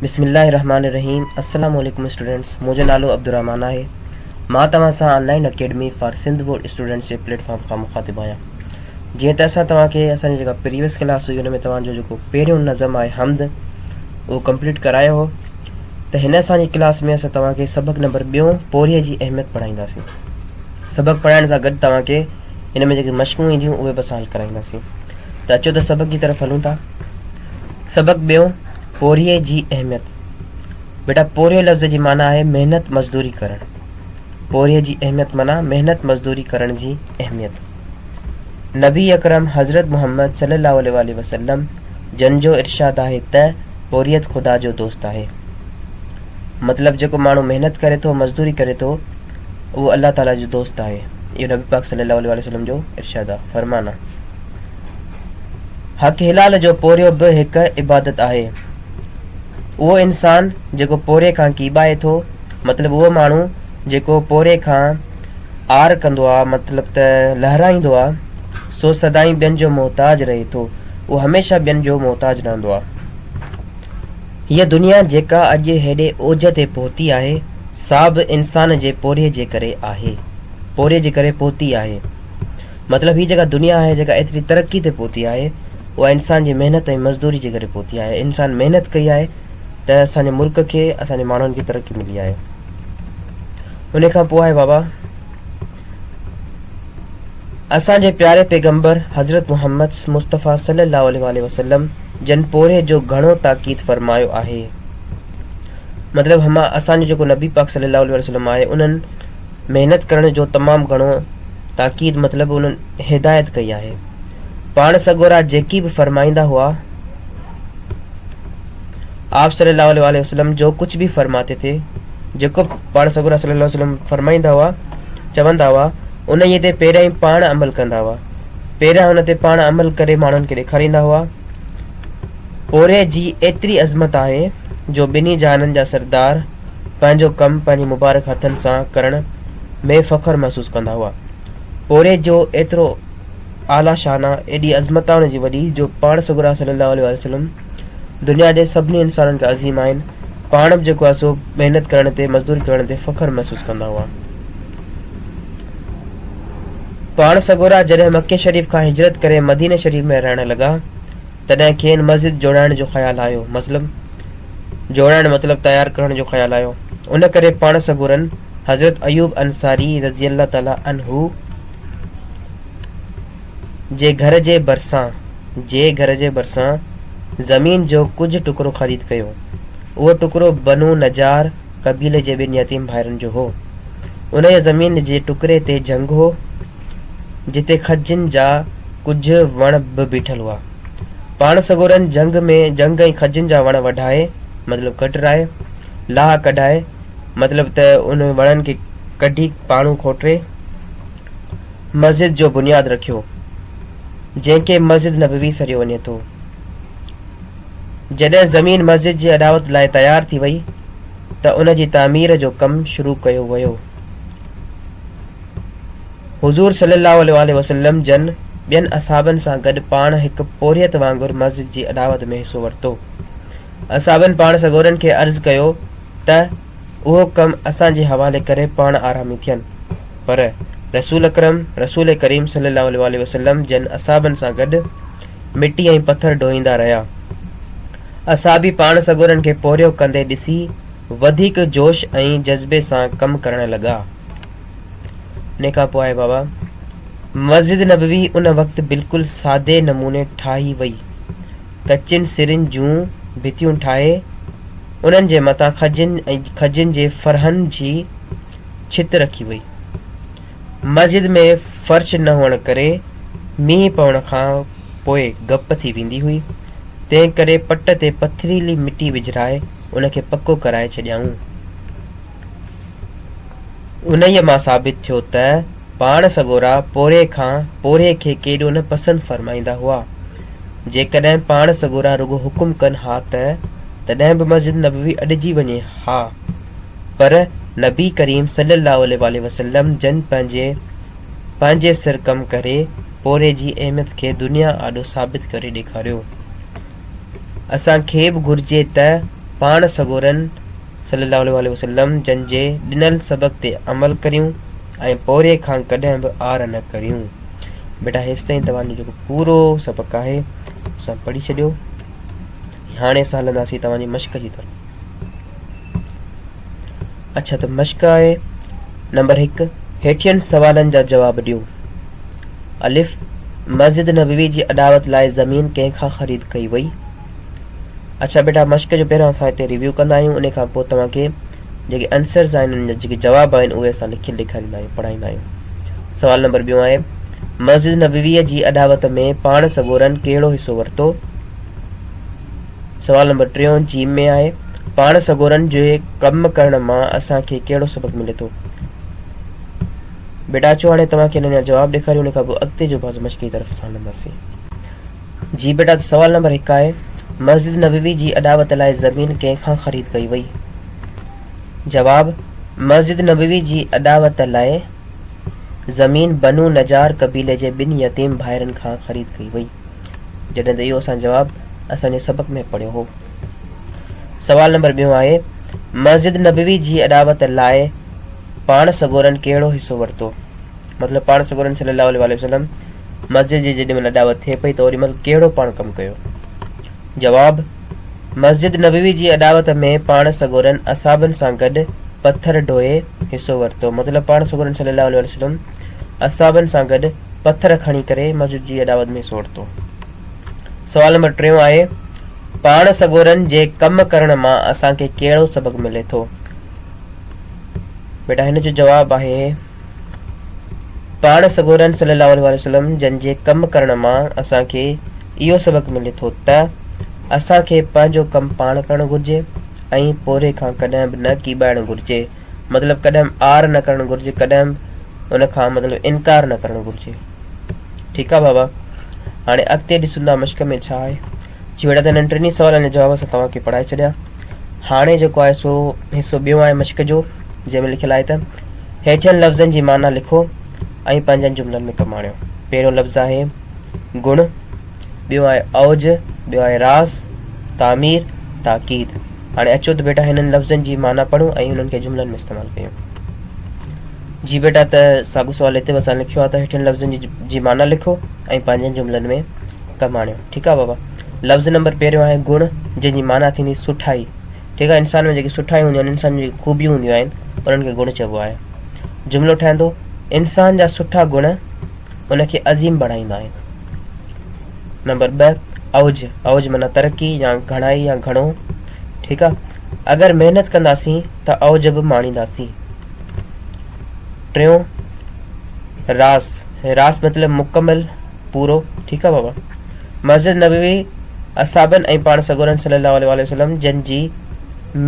بسم الله الرحمن الرحيم السلام عليڪم اسٽوڊنٽس منهنجو نالو عبدالرحمان آهي مان توهان سان online academy for Sindh board students جي پليٽ فارم کان مخاطب آهيان جيئن ته اسان توهان کي اسان جي جيڪا پريويس ڪلاس هئي ان ۾ توهان جو جيڪو پهريون نظم آهي حمد اهو ڪمپليٽ ڪرايو هو ته هن اسان جي ڪلاس ۾ اسان توهان کي سبق نمبر ٻيون پورهيي جي اهميت پڙهائينداسين سبق پڙهائڻ سان گڏ توهان کي ان ۾ جيڪي مشقون اينديون اهي به اسان حل ڪرائينداسين ته اچو ته سبق جي طرف هلون ٿا سبق ٻيو پورهيي جي اهميت بيٽا پورهيو لفظ جي معنی آهي محنت مزدوري ڪرڻ پورهيي جي اهميت معنی محنت مزدوري ڪرڻ جي اهميت نبي اڪرم حضرت محمد صلي الله عليه وآله وسلم جن جو ارشاد آهي ته پورهيت خدا جو دوست آهي مطلب جيڪو ماڻهو محنت ڪري ٿو مزدوري ڪري ٿو اهو الله تعاليٰ جو دوست آهي. اهو نبي پاڪ صلّي اللّٰه عليه واٰله وسلّم جو ارشاد آهي، فرمان آهي. حق حلال جو پورهيو به هڪ عبادت آهي. اهو انسان جيڪو پورهيي کان ڪيٻائي ٿو، مطلب اهو ماڻهو جيڪو پورهيي کان عار ڪندو آهي، مطلب ته لهرائيندو آهي، سو سدائين ٻين جو محتاج رهي ٿو، اهو هميشه ٻين جو محتاج رهندو آهي. هيء دنيا جيڪا اڄ هيڏي اوج تي پهتي آهي، سا به انسان جي پورهيي جي ڪري آهي. پورهيي جي ڪري پهتي آهي. مطلب هيء جيڪا دنيا آهي، جيڪا ايتري ترقي تي پهتي آهي، اها انسان جي محنت ۽ مزدوري جي ڪري پهتي آهي. انسان محنت ڪئي آهي ته اسان جي ملڪ کي، اسان جي ماڻهن کي ترقي ملي آهي. انهيء کان پوء آهي بابا! اسان جي پياري پيغمبر حضرت محمد مصطفيٰ صلّي اللّٰه عليه واٰله وسلّم جن پورهيي جو گهڻو تاڪيد فرمايو آهي. مطلب هما اسان جو جيڪو نبي پاڪ صلّي اللّٰه عليه واٰله وسلّم آهي انهن محنت ڪرڻ جو تمام گهڻو تاڪيد مطلب انهن هدايت ڪئي آهي. پاڻ سڳورا جيڪي به فرمائيندا هئا. آپ صلّي اللّٰه عليه واٰله وسلّم جو ڪجھ به فرماتي تي جيڪو پاڻ سڳورا صلّي اللّٰه عليه وسلّم فرمائيندا هئا، چوندا هئا، انهيء تي پهريائين پاڻ عمل ڪندا هئا. پهريان ان تي پاڻ عمل ڪري ماڻهن کي ڏيکاريندا هئا. پورهئي جي ايتري عظمت آهي جو ٻنهي جهانن جا سردار پنهنجو ڪم پنهنجي مبارڪ هٿن سان ڪرڻ ۾ فخر محسوس ڪندا هئا. پورهئي جو ايترو اعليٰ شان آ، ايڏي عظمتاڻ جي وڏي جو پاڻ سڳورا صلّي اللّٰه عليه واٰله وسلّم، دنيا جي سڀني انسانن کي عظيم آهن، پاڻ به جيڪو آهي سو محنت ڪرڻ تي، مزدوري ڪرڻ تي فخر محسوس ڪندا هئا. پاڻ سڳورا جڏهن مڪي شريف کان هجرت ڪري مديني شريف ۾ رهڻ لڳا، تڏهن کين مسجد جوڙائڻ جو خيال آيو، مطلب جوڙائڻ مطلب تيار ڪرڻ جو خيال آيو، ان ڪري پاڻ سڳورن حضرت ايوب انصاري رضي الله تعالٰي عنه، جي گهر جي ڀرسان جي گهر جي ڀرسان زمين جو ڪجهه ٽڪرو خريد ڪيو. اهو ٽڪرو بنو نجار قبيلي جي ٻن يتيم ڀائرن جو هو. انهيء زمين جي ٽڪري تي جهنگ هو، جتي کجين جا ڪجهه وڻ به بيٺل هئا. پاڻ سڳورن جهنگ ۾ جهنگ ۽ کجين جا وڻ وڍائي، مطلب ڪٽرائي، لاهه ڪڍائي، مطلب ته انهن وڻن کي ڪڍي پاڻو کوٽري، مسجد جو بنياد رکيو، جنهن کي مسجد نبوي سڏيو وڃي ٿو. جڏهن زمين مسجد جي اڏاوت لاء تيار ٿي وئي ته ان جي تعمير جو ڪم شروع ڪيو ويو. حضور صلي الله عليه واٰله وسلم جن ٻين اصحابن سان گڏ پاڻ هڪ پورهيت وانگر مسجد جي اڏاوت ۾ حصو ورتو. اصحابن پاڻ سڳورن کي عرض ڪيو ته اهو ڪم اسان جي حوالي ڪري پاڻ آرامي ٿين. پر رسول اڪرم رسول ڪريم صلي الله عليه واٰله وسلم جن اصحابن سان گڏ مٽي ۽ پٿر ڍوئيندا رهيا. اصحابي پاڻ سڳورن کي پورهيو ڪندي ڏسي وڌيڪ جوش ۽ جذبي سان ڪم ڪرڻ لڳا. انهي کان پوء بابا مسجد نبوي ان وقت بلڪل سادي نموني ٺاهي وئي. ڪچين سرن جون ڀتيون ٺاهي، انهن جي مٿان کجين ۽ کجين جي ڦرهن جي ڇت رکي وئي. مسجد ۾ فرش نه هئڻ ڪري مينهن پوڻ کان پوء گپ ٿي ويندي هئي، تنهنڪري پٽ تي پٿريلي مٽي وجهرائي ان کي پڪو ڪرائي ڇڏيائون. انهيء مان ثابت ٿيو ته پاڻ سڳورا پورهيي کان پورهيي کي ڪيڏو نه پسند فرمائيندا هئا. جيڪڏهن پاڻ سڳورا رڳو حڪم ڪن ها ته تڏهن به مسجد نبوي اڏجي وڃي ها، پر نبي ڪريم صلّي اللّٰه عليه واٰله وسلّم جن پنهنجي پنهنجي سر ڪم ڪري پورهيي جي اهميت کي دنيا آڏو ثابت ڪري ڏيکاريو. اسان کي به گهرجي ته پاڻ سڳورن صلّي اللّٰه عليه واٰله وسلّم جن جي ڏنل سبق تي عمل ڪريون ۽ پورهيي کان ڪڏهن به آر نه ڪريون. بيٽا هيستائين توهان جو جيڪو پورو سبق آهي سا پڙهي ڇڏيو ۽ هاڻي اسان هلنداسين توهان جي مشق جي طرف. اڇا ته مشق آهي نمبر هڪ هيٺين سوالن جا جواب ڏيو. الف مسجد نبوي جي اڏاوت لاء زمين ڪنهن کان خريد ڪئي وئي؟ اڇا بيٽا مشق جو پهريان اسان هتي ريويو ڪندا آهيون انهي کان پوء توهان کي جيڪي انسرز آهن انهن جا جيڪي جواب آهن اهي اسان لکي ڏيکاريندا آهيون پڙهائيندا آهيون سوال نمبر ٻيون آهي مسجد نبوي جي اڏاوت ۾ پاڻ سڳورن ڪهڙو حصو ورتو سوال نمبر ٽيون جيم ۾ آهي پاڻ سڳورن جي ڪم ڪرڻ مان اسان کي ڪهڙو سبق ملي ٿو بيٽا اچو هاڻي توهان کي انهن جا جواب ڏيکاريون ان کان پوء اڳتي جو بازو مشق جي طرف اسان هلنداسين جي بيٽا ته سوال نمبر هڪ آهي مسجد نبوي جي اڏاوت لاء زمين ڪنهن کان خريد ڪئي وئي؟ جواب، مسجد نبوي جي اڏاوت لاء زمين بنو نجار قبيلي جي ٻن يتيم ڀائرن کان خريد ڪئي وئي جڏهن ته اهو اسان جواب اسان جي سبق ۾ پڙهيو هو. سوال نمبر ٻيون آهي مسجد نبوي جي اڏاوت لاء پاڻ سڳورن ڪهڙو حصو ورتو؟ مطلب پاڻ سڳورن صلّي اللّٰه عليه واٰله وسلّم مسجد جي جيڏي مھل اڏاوت ٿئي پئي ته اوڏي مھل ڪهڙو پاڻ ڪم ڪيو؟ جواب، مسجد نبوي جي اڏاوت ۾ پاڻ سڳورن اصحابن سان گڏ پٿر ڍوئي حصو ورتو مطلب پاڻ سڳورن صلّي اللّٰه عليه واٰله وسلّم اصحابن سان گڏ پٿر کڻي ڪري مسجد جي اڏاوت ۾ حصو ورتو. سوال نمبر ٽيون آهي، پاڻ سڳورن جي ڪم ڪرڻ مان اسان کي ڪهڙو سبق ملي ٿو؟ بيٽا هن جو جواب آهي. پاڻ سڳورن صلّي اللّٰه عليه واٰله وسلّم جن جي ڪم ڪرڻ مان اسان کي اهو سبق ملي ٿو ته اسان کي پنهنجو ڪم پاڻ ڪرڻ گهرجي ۽ پورهيي کان ڪڏهن به نه ڪيٻائڻ گهرجي مطلب ڪڏهن به آر نه ڪرڻ گهرجي ڪڏهن به ان کان مطلب انڪار نه ڪرڻ گهرجي ٺيڪ آ بابا هاڻي اڳتي ڏسون ٿا مشق ۾ ڇا آهي جهڙا ته هنن ٽنهي سوالن جا جواب اسان توهان کي پڙهائي ڇڏيا هاڻي جيڪو آهي سو حصو ٻيو آهي مشق جو جنهن ۾ لکيل آهي ته هيٺين لفظن جي معنيٰ لکو ۽ پنهنجن جملن ۾ ڪم آڻيو. پهريون لفظ آهي گڻ، ٻيو آهي اوج، ٻيو آهي راز، تعمير، تاڪيد. هاڻي اچو ته بيٽا هنن لفظن جي معنيٰ پڙهون ۽ انهن کي جملن ۾ استعمال ڪيون. جي بيٽا ته ساڳو سوال هتي به اسان لکيو آهي ته هيٺين لفظن جي جي معنيٰ لکو ۽ پنهنجن جملن ۾ ڪم آڻيو. ٺيڪ آهي بابا. لفظ نمبر پهريون آهي گڻ جنهن جي معنيٰ ٿيندي سٺائي. جيڪا انسان ۾ جيڪي سٺائيون هونديون آهن، انسان جون جيڪي خوبيون هونديون آهن، انهن کي گڻ چئبو آهي. جملو ٺهندو، انسان جا سٺا گڻ ان کي عظيم بڻائيندا آهن. نمبر ٻه اوج اوج معنيٰ ترقي يا گهڻائي يا گهڻو ٺيڪ آهي اگر محنت ڪنداسين ته اوج به ماڻينداسين ٽيون راس راس مطلب مڪمل پورو ٺيڪ آ بابا. مسجد نبوي اصحابن ۽ پاڻ سڳورن صلي الله عليه واٰله وسلم جن جي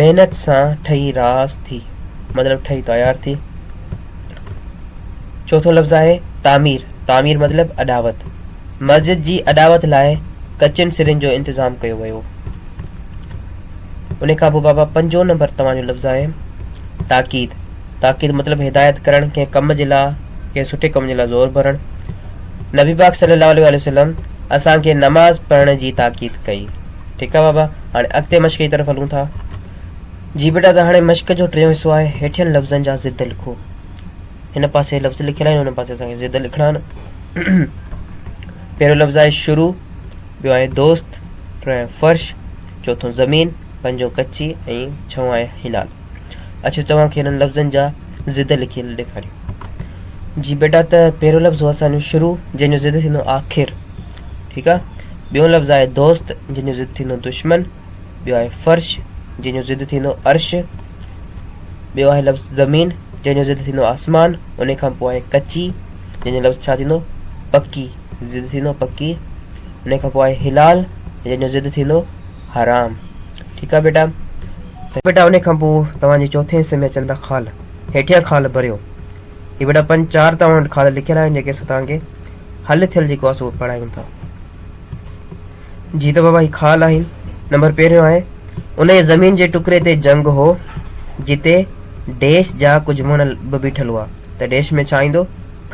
محنت سان ٺهي راس ٿي مطلب ٺهي تيار ٿي. چوٿون لفظ آهي تعمير تعمير مطلب اڏاوت مسجد جي اڏاوت لاء ڪچين سرين جو انتظام ڪيو ويو. ان کان پوء بابا پنجون نمبر توهان جو لفظ آهي تاڪيد تاڪيد مطلب هدايت ڪرڻ، ڪنهن ڪم جي لاء، ڪنهن سٺي ڪم جي لاء زور ڀرڻ. نبي پاڪ صلي الله عليه واٰله وسلم اسان کي نماز پڙهڻ جي تاڪيد ڪئي. ٺيڪ آ بابا هاڻي اڳتي مشق جي طرف هلون ٿا. جي بيٽا ته هاڻي مشق جو ٽيون حصو آهي هيٺين لفظن جا ضد لکو. هن پاسي لفظ لکيل آهن هن پاسي اسان کي ضد لکڻا آهن. پهريون لفظ آهي شروع، ٻيو آهي دوست، ٽيون آهي فرش، چوٿون زمين، پنجون ڪچي ۽ ڇهون آهي هنال. اچو توهان کي انهن لفظن جا ضد لکيل ڏيکاريون. جي بيٽا ته پهريون لفظ هو اسان جو شروع جنهن جو ضد ٿيندو آخر ٺيڪ آ ٻيون لفظ آهي دوست جن جو ضد ٿيندو دشمن ٻيو آهي فرش جن جو ضد ٿيندو عرش ٻيو آهي لفظ زمين جن جو ضد ٿيندو آسمان ان کان پوء آهي ڪچي جن جو لفظ ڇا ٿيندو پڪي ضد ٿيندو پڪي ان کان پوء آهي هلال جن جو ضد ٿيندو حرام ٺيڪ آ ٻيٽا. ته ٻيٽا انهي کان پوء توهان جي چوٿين حصي ۾ اچن ٿا خال. هيٺيان خال ڀريو. هي ٻيٽا پنج چار توهان وٽ خال لکيل آهن جيڪي اسان توهان کي حل ٿيل جيڪو آهي سو پڙهايون ٿا. جي ته بابا هي خال آهن. نمبر پهريون آهي انهي زمين جي ٽڪري تي جنگ هو جتي ڊيش جا ڪجهه وڻ به بيٺل هئا ته ڊيش ۾ ڇا ايندو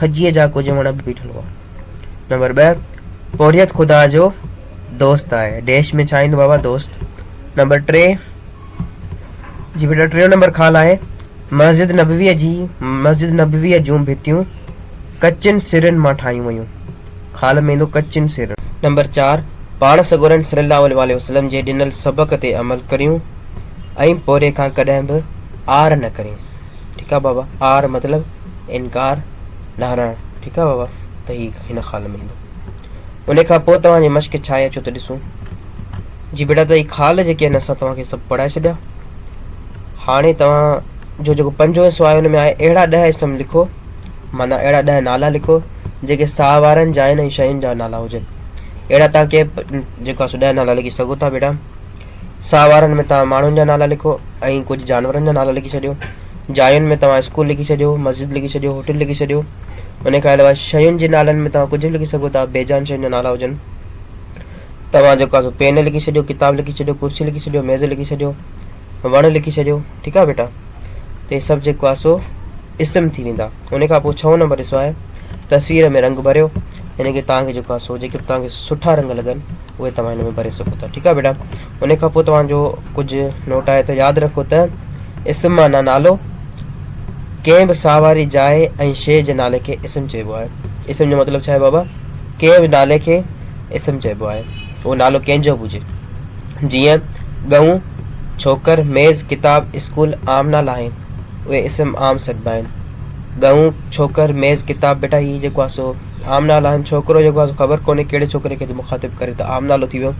کجيء جا ڪجهه وڻ به بيٺل هئا. نمبر ٻه پورهيت خدا جو دوست آهي ڊيش ۾ ڇا ايندو بابا دوست نمبر ٽي جي بيٽا ٽيون نمبر خال آهي مسجد نبويء جي مسجد نبويء جون ڀتيون ڪچين سرن مان ٺاهيون ويون خال ۾ ايندو ڪچين سرن. نمبر چار پاڻ سڳورن صلي الله عليه واٰله وسلم جي ڏنل سبق تي عمل ڪريون ۽ پوري کان ڪڏهن به عار نه ڪريون ٺيڪ آهي بابا عار مطلب انڪار ڏانهرڻ ٺيڪ آهي بابا ته هي هن خال ۾ ايندو. ان کان پوء توهان جي مشق ڇا آهي اچو ته ڏسون. جي بيٽا ته هي خال جيڪي آهن اسان توهان کي سڀ پڙهائي ڇڏيا. هاڻي توهان جو جيڪو پنجون حصو آهي ان ۾ آهي اهڙا ڏهه اسم لکو معنيٰ اهڙا ڏهه نالا لکو جيڪي ساهه وارن جاين ۽ شين جا نالا هجن. اهڙا توهان ڪيئن جيڪو آهي سو ڏهه نالا لکي سگهو ٿا بيٽا. ساهه وارن ۾ توهان ماڻهن جا نالا لکو ۽ ڪجهه جانورن جا نالا لکي ڇڏيو. جاين ۾ توهان اسڪول لکي ڇڏيو، مسجد لکي ڇڏيو، هوٽل لکي ڇڏيو. انهيء کان علاوه شين جي نالن ۾ توهان ڪجهه به لکي سگهو ٿا، بي جان شين جا نالا هجن. توهان جيڪو آهي سو پين لکي ڇڏيو، ڪتاب لکي ڇڏيو، ڪرسي لکي ڇڏيو، ميز لکي ڇڏيو، وڻ لکي ڇڏيو. ٺيڪ آهي ٻيٽا. ته هي سڀ جيڪو آهي سو. اسم ٿي ويندا ان کان پوء ڇهون نمبر ڏسو آهي تصوير ۾ رنگ ڀريو يعني ڪي توهان کي جيڪو آهي سو جيڪي به توهان کي سٺا رنگ لڳن اهي توهان هن ۾ ڀري سگهو ٿا ٺيڪ آهي بيٽا ان کان پوء توهان جو ڪجهه نوٽ آهي ته ياد رکو ته اسم معنيٰ نالو ڪنهن به ساهه واري جاء ۽ شيء جي نالي کي اسم چئبو آهي اسم جو مطلب ڇا آهي بابا ڪنهن به نالي کي اسم چئبو آهي اهو نالو ڪنهن جو به هجي جيئن ڳئون ڇوڪر ميز ڪتاب اسڪول عام نالا آهن اهي اسم عام سڏبا آهن. ڳئون، ڇوڪر، ميز، ڪتاب، بيٽا هي جيڪو آهي سو عام نالا آهن. ڇوڪرو جيڪو آهي سو خبر ڪونهي ڪهڙي ڇوڪري کي ٿو مخاطب ڪري ته عام نالو ٿي ويو.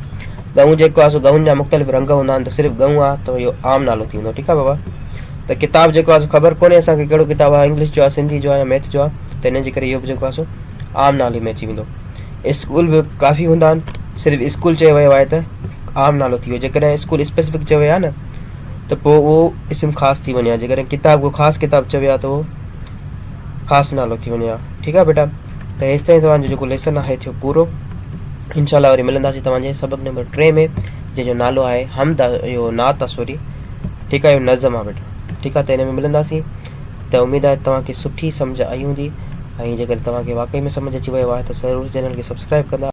ڳئون جيڪو آهي سو ڳئون جا مختلف رنگ هوندا آهن ته صرف ڳئون آهي ته اهو عام نالو ٿي ويندو ٺيڪ آهي بابا. ته ڪتاب جيڪو آهي سو خبر ڪونهي اسان کي ڪهڙو ڪتاب آهي انگلش جو آهي سنڌي جو آهي يا ميٿ جو آهي ته ان جي ڪري اهو به جيڪو آهي سو عام نالي ۾ اچي ويندو. اسڪول به ڪافي هوندا آهن صرف اسڪول چيو ويو آهي ته عام نالو ٿي ويو جيڪڏهن اسڪول اسپيسفڪ چيو ويو آهي نه ته پوء اهو اسم خاص ٿي وڃي ها جيڪڏهن ڪتاب ڪو خاص ڪتاب چوي ها ته اهو خاص نالو ٿي وڃي ها ٺيڪ آهي ٻيٽا ته هيستائين توهان جو جيڪو ليسن آهي ٿيو پورو انشاء الله وري ملنداسين توهان جي سبق نمبر ٽي ۾ جنهن جو نالو آهي حمد اهو نعت آ سوري ٺيڪ آهي اهو نظم آ ٻيٽا ٺيڪ آهي ته هن ۾ ملنداسين ته اميد آهي ته توهان کي سٺي سمجهه آئي هوندي ۽ جيڪڏهن توهان کي واقعي ۾ سمجهه اچي ويو آهي ته ضرور چينل کي سبسڪرائيب ڪندا.